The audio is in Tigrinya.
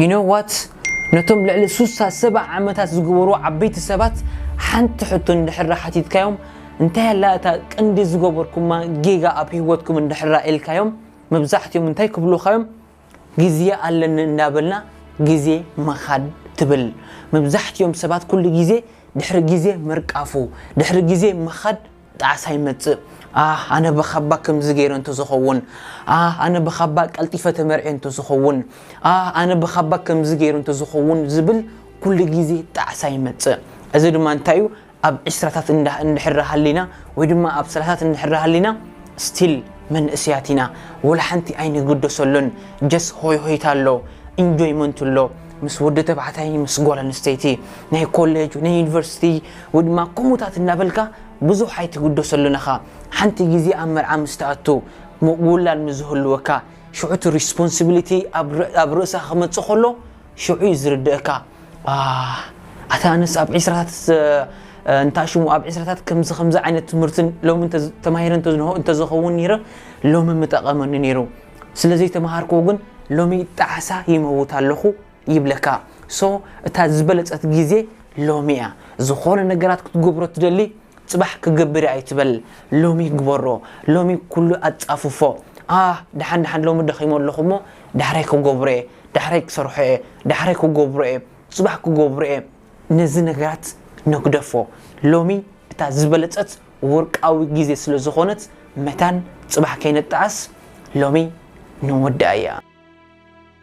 You know what? ነቶም ልዕሊ ሱሳ ሰባ ዓመታት ዝገበሩ ዓበይቲ ሰባት ሓንቲ ሕቶ እንድሕራ ሓቲትካዮም እንታይ ኣላ እታ ቅንዲ ዝገበርኩማ ጌጋ ኣብ ህይወትኩም እንድሕራ ኢልካዮም መብዛሕትኦም እንታይ ክብሉኻዮም ግዜ ኣለኒ እንዳበልና ግዜ ምኻድ ትብል መብዛሕትኦም ሰባት ኩሉ ግዜ ድሕሪ ግዜ ምርቃፉ ድሕሪ ግዜ ምኻድ ጣዕሳ ይመጽእ ኣህ ኣነ ብካባ ከምዚ ገይረ እንተዝኸውን ኣህ ኣነ ብካባ ቀልጢፈ ተመርዕየ እንተዝኸውን ኣህ ኣነ ብካባ ከምዚ ገይረ እንተዝኸውን ዝብል ኩሉ ግዜ ጣዕሳ ይመጽእ እዚ ድማ እንታይ እዩ ኣብ ዕስራታት እንድሕር ሃሊና ወይ ድማ ኣብ ሰላሳት እንድሕር ሃሊና ስቲል መንእስያት ኢና ወላ ሓንቲ ኣይንግደሰሉን ጀስ ሆይ ሆይታ ኣሎ ኢንጆይመንት ኣሎ ምስ ወዲ ተባዕታይ ምስ ጓል ኣንስተይቲ ናይ ኮሌጅ ወይ ናይ ዩኒቨርሲቲ ወይ ድማ ከምኡታት እናበልካ ብዙሕ ኣይትግደሰሉን ኢኻ ሓንቲ ግዜ ኣብ መርዓ ምስ ትኣቱ ምውላድ ምስ ዝህልወካ ሽዑ እቲ ሪስፖንሲቢሊቲ ኣብ ርእስኻ ክመጽእ ከሎ ሽዑ እዩ ዝርድእካ ኣህ ኣታ ኣነስ ኣብ ዒስራታት እንታይ ሽሙ ኣብ ዕስራታት ከምዚ ከምዚ ዓይነት ትምህርቲ ሎሚ ተማሂረ እንተዝኸውን ነይረ ሎሚ ምጠቐመኒ ነይሩ ስለ ዘይተማሃርክዎ ግን ሎሚ ጣዕሳ ይመውት ኣለኹ ይብለካ so እታ ዝበለጸት ግዜ ሎሚ እያ ዝኾነ ነገራት ክትገብሮ ትደሊ ጽባሕ ክገብር እየ ኣይትበል ሎሚ ግበሮ ሎሚ ኩሉ ኣጻፍፎ ኣህ ደሓን ደሓን ሎሚ ደኺሞ ኣለኹ እሞ ዳሕራይ ክገብሮ እየ ዳሕራይ ክሰርሖ እየ ዳሕራይ ክገብሮ እየ ጽባሕ ክገብሮ እየ ነዚ ነገራት ነግደፎ ሎሚ እታ ዝበለጸት ወርቃዊ ግዜ ስለ ዝኾነት መታን ጽባሕ ከይንጠዓስ ሎሚ ንወድኣያ።